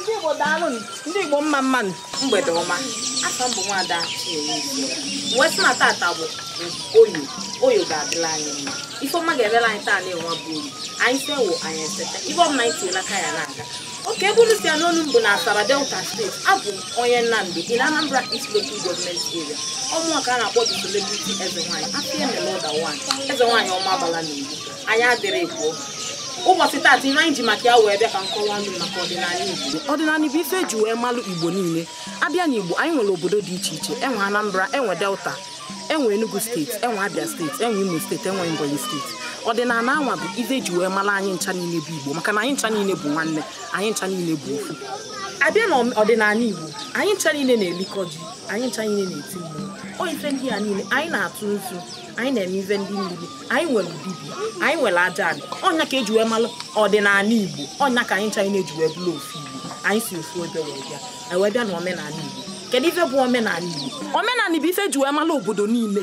ndị Igbo daalụ ndị Igbo mma mma nụ mgbede ọma afa m bụ nwada wee sị na tata bụ Oye Oye ga-adịla anyị mma ifeọma ga-emela anyị taa anwa bụ Oye anyị sewo anyị esete ife ọbụla anyị tinyela aka ya na-aga oke ebe unu si anụ olu m bụ na Asaba Delta steeti abụ m onye Nando in Anambra East Local Government Area ọ mụnwa ka a na-akpọ the celebrity eze nwaanyị afọ emela ụda nwaanyị eze nwaanyị Ọmabala na Igbo anyị adịrị pụọ ụbọchị taata ihe anyị ji maka ya wee bịa ka m kọwalụ unu maka ọdịnala Igbo ọdịnala bụ ife eji wee malụ Igbo niile abịa na Igbo anyị nwere obodo dị iche iche enwe Anambra enwe Delta enwe Enugu steeti enwe Abia steeti enwe Imo steeti enwe Ebonyi steeti ọdịnala anwa bụ ife eji wee malụ anyị ncha niile bụ Igbo maka na anyị ncha niile bụ nwanne anyị ncha niile bụ ofu abịa na ọdịnala Igbo anyị ncha niile na-elikọ ji anyị ncha niile na-eti mmụọ ọ ife ndị a niile anyị na-atụ nzu anyị na-eme ife ndị mmiri anyị nwere dibịa anyị nwere aja anị ọnya ka eji wee malụ ọdịnala igbo ọ nya ka anyị ncha niile ji wee bụrụ ofu igbo anyị si ofu ebe wee bịa anyị wee bịa na omenala igbo kedu ife bụ omenala igbo omenala bụ ife eji wee malụ obodo niile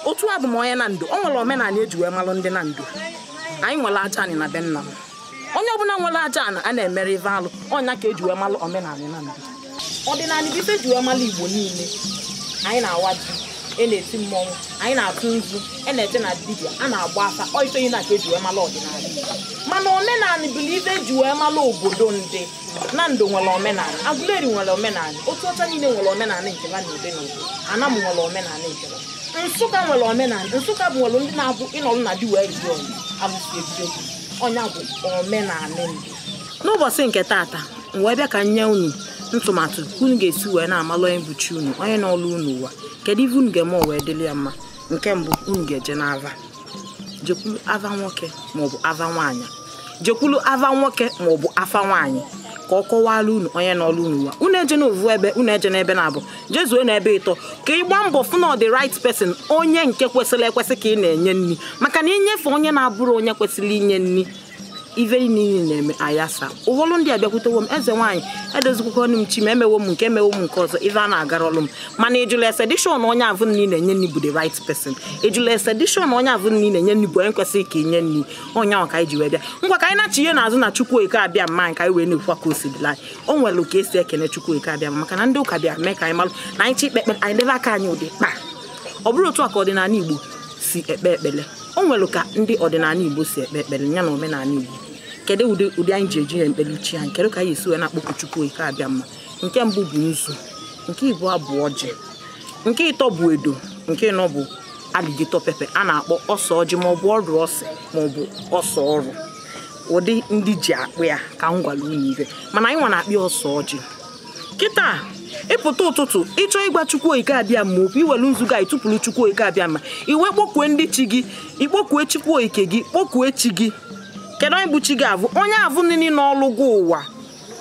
otu abụ m onye Nando o nwere omenala eji wee malụ ndị Nando anyị nwere aja anị na be nna m onye ọbụla nwere aja anị a na-emere ife alụ ọ nya ka eji wee malụ omenala Nando ọdịnala bụ ife eji wee malụ igbo niile anyị na-awa ji e na-eti mmọnwụ anyị na-atụ nzu e na-eje na dibịa a na-agba afa ọ ife ndị a ka eji wee malụ ọdịnala igbo mana omenala bụ ife eji wee malụ obodo ndị Nando nwere omenala Aguleri nwere omenala Otuọcha niile nwere omenala nke ha na-ede n'obodo Anam nwere omenala nke ha nsụka nwere omenala nsụka bụ nwere ndị na-abụ ị nọrọ na di wee jụọ abụsi ebido ọ nya bụ omenala ndị n'ụbọchị nke tata m wee bịa ka m nye unu ntụmatụ ka unu ga-esi wee na-amalụ onye bụ chi unu onye nọlụ unu ụwa kedu ife unu ga-eme o wee dịrị ya mma nke mbụ unu ga-eje n'ava jekwulu ava nwoke maọbụ ava nwaanyị jekwulu ava nwoke maọbụ afa nwaanyị ka ọ kọwalụ unu onye nọlụ unu ụwa unu eje n'ovu ebe unu eje n'ebe naabọ jezuo n'ebe ịtọ ka ị gbaa mbọ fụ na the right person onye nke kwesịrị ekwesị ka ị na-enye nri maka na i nyefe onye na-abụrọ onye kwesịrị inye nri ife niile na-eme ayasa ụfọdụ ndị abịakwutewo m eze nwaanyị edozikwuwo nụ m chi m emewo m nke emewo m nke ọzọ ife a na-agarọlụ m mana ị jụlụ ese dị sure na onye avụ ị na-enye nri bụ the right person ị jụlụ ese dị sure na onye avụ ị na-enye nri bụ onye kwesịrị ka i nye nri ọ nya ka anyị ji wee bịa ngwa ka anyị na-achị ihe n'azụ na chukwu okike abịama anyị ka anyị wee na-ekwukwa ka o si dịla anyị o nwere ka esi ekene chukwu okike abịama maka na ndị ụka bịa mee ka anyị malụ na anyị chọọ ikpe ekpere anyị debe aka anyị ụdị kpa ọ bụrọ otu a ka ọdịnala igbo si ekpe ekpere o nwere ka ndị ọdịnala igbo si ekpe ekpere ya na omenala igbo kedu ụdị ụdị anyị ji eji ya ekpere chi anyị kedu ka anyị esi wee na-akpọku chukwu okike abịama nke mbụ bụ nzu nke ịbụọ bụ ọjị nke ịtọ bụ edo nke ịnọ bụ alligator pepper a na-akpọ ose ọjị ma ọ bụ ọrụ ose ma ọ bụ ose ọrụ ụdị ndị ji akpọ ya ka m gwara unu ive mana anyị nwa na-akpọ ya ose ọjị kịta ị pụta ụtụtụ ị chọọ ịgwa chukwu okike abịama okwu i welu nzu gị tụpụrụ chukwu okike abịama i wee kpọkue ndị chi gị i kpọkue chukwu okike gị kpọkue chi gị kedu onye bụ chi gị avụ onye avụ nini nọlụ gụ ụwa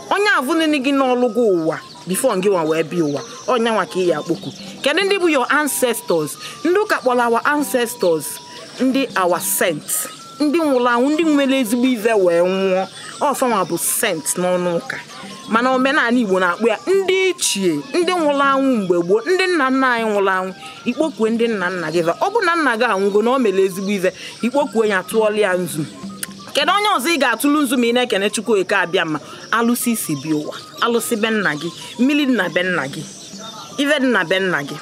onye avụ nini gị nọlụ gụ ụwa before ngị nwa wee bịa ụwa ọ nya nwa ka ị ya akpọku kedu ndị bụ your ancestors ndị ụka kpọrọ our ancestors ndị our saints ndị nwụrụ anwụ ndị mere ezigbo ive wee nwụọ ọ fa nwa bụ saint n'ọnụ ụka mana omenala igbo na-akpọ ya ndị ichie ndị nwụrụ anwụ mgbe gboo ndị nna nna anyị nwụrụ anwụ i kpọkue ndị nna nna gị ọ bụ na nna gị anwụgo na o mere ezigbo ive i kpọkue ya tụọla ya nzu kedu onye ọzọ ị ga-atụlụ nzu ma ị na-ekene chukwu okike abịama alụsị i si bịa ụwa alụsị be nna gị mmiri dị na be nna gị ive dị na be nna gị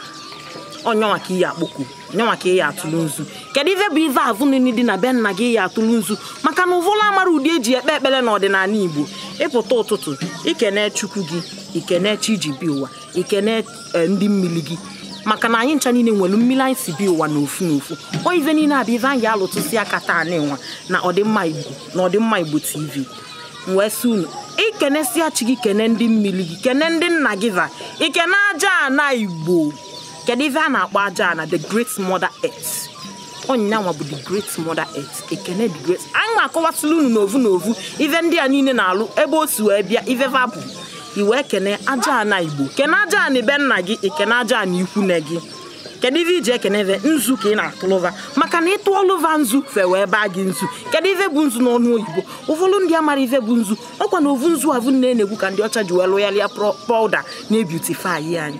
ọ nya nwa ka ị ya akpọku nya nwa ka ị ya atụlụ nzu kedu ife bụ ife avụ nini dị na be nna gị ya atụlụ nzu maka na ụfọdụ amara ụdị e ji ekpe ekpere na ọdịnala igbo ị pụta ụtụtụ i kene chukwu gị i kene chi i ji bịa ụwa i kene eh, ndị mmiri gị maka na anyị ncha niile nwere mmiri anyị si bịa ụwa n'ofu n'ofu ọ ife niile a bụ ife anyị alụtụsi aka taa na ịnwa na ọdịmma igbo na ọdịmma igbo tv m wee sị unu i kenesịa chi gị kene ndị mmiri gị kene ndị nna gị va i kene aja ana igbo kedu ife a na-akpọ aja ana the great mother earth ọ nya nwa bụ the great mother earth i kene the great anyị ma akọwasịla unu n'ovu n'ovu ife ndị a niile na-alụ ebe o si wee bịa ife va bụ i wee kene aja ana igbo kene aja ana be nna gị i kene aja ana ikwu nne gị kedu ife i ji ekene va nzu ka ị na-atụlụ va maka na ị tụọlụ va nzu fa wee baa gị nzu kedu ife bụ nzu n'ọnụ oyibo ụfọdụ ndị amara ife bụ nzu ọ kwa na ovu nzu avụ nne na-egwu ka ndị ọcha ji wee lụgharịa powder na-ebeautify anyị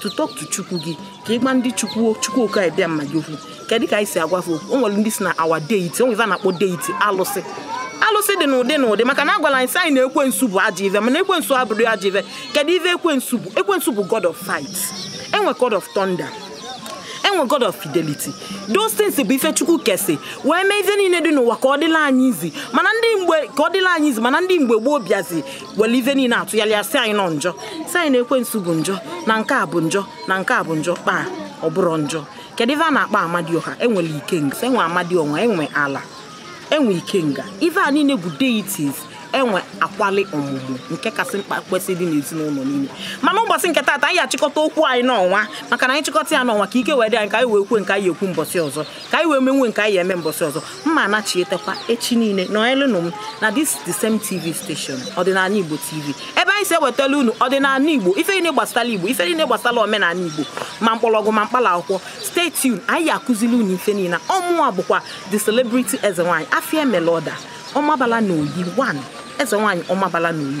to talk to chukwu gị ka ị gwa ndị chukwu chukwu okike abịama gị okwu kedụ ka anyị si agwa okwu o nwere ndị si na our deity o nwere na-akpọ deity alụsị alụsị dị n'ụdị n'ụdị maka na a gwara anyị sị anyị na ekwensu bụ ajọ ive mana ekwensu abụrọ ajọ ive kedụ ive ekwensu bụ ekwensu bụ god of fight e nwee god of thunder e nwee god of fidelity those things bụ ife chukwu kesị wee mee ife niile dị n'ụwa ka ọ dịla anyị easy mana ndị mgbe gboo bịazi were ife niile tụgharịa ya sị anyị na ọ njọ sị anyị na ekwensu bụ njọ na nke a bụ njọ na nke a bụ njọ kpaa ọ bụrọ njọ kedu ife a na-akpọ amadioha e nwere ikenga e nwee amadioha e nwee ala e nwee ikenga ife a niile bụ deities e nwee akwali ọmụmụ nke kasị mkpa kwesị ịdị n'ezinụlọ niile mana ụbọchị nke taata anyị achịkọta okwu anyị n'ọnwa maka na anyị chịkọta ya n'ọnwa ka ike wee dị anyị ka anyị wee kwuo nke anyị ekwu mbọchị ọzọ ka anyị wee menwe nke anyị eme mbọsị ọzọ mma anachietekwa echi niile nọnyerenụ m na this the same tv station ọdịnala igbo tv ebe anyị si ewetala unu ọdịnala igbo ife niile gbasara igbo ife niile gbasara omenala igbo ma mkpọrọgwụ ma mkpala akwụkwọ stay tuned anyị akụzili unu ife niile ọ mụwa bụkwa the celebrity eze nwaanyị afia melọda ọmabala na oyi 1 eze nwaanyị ọmabala na oyi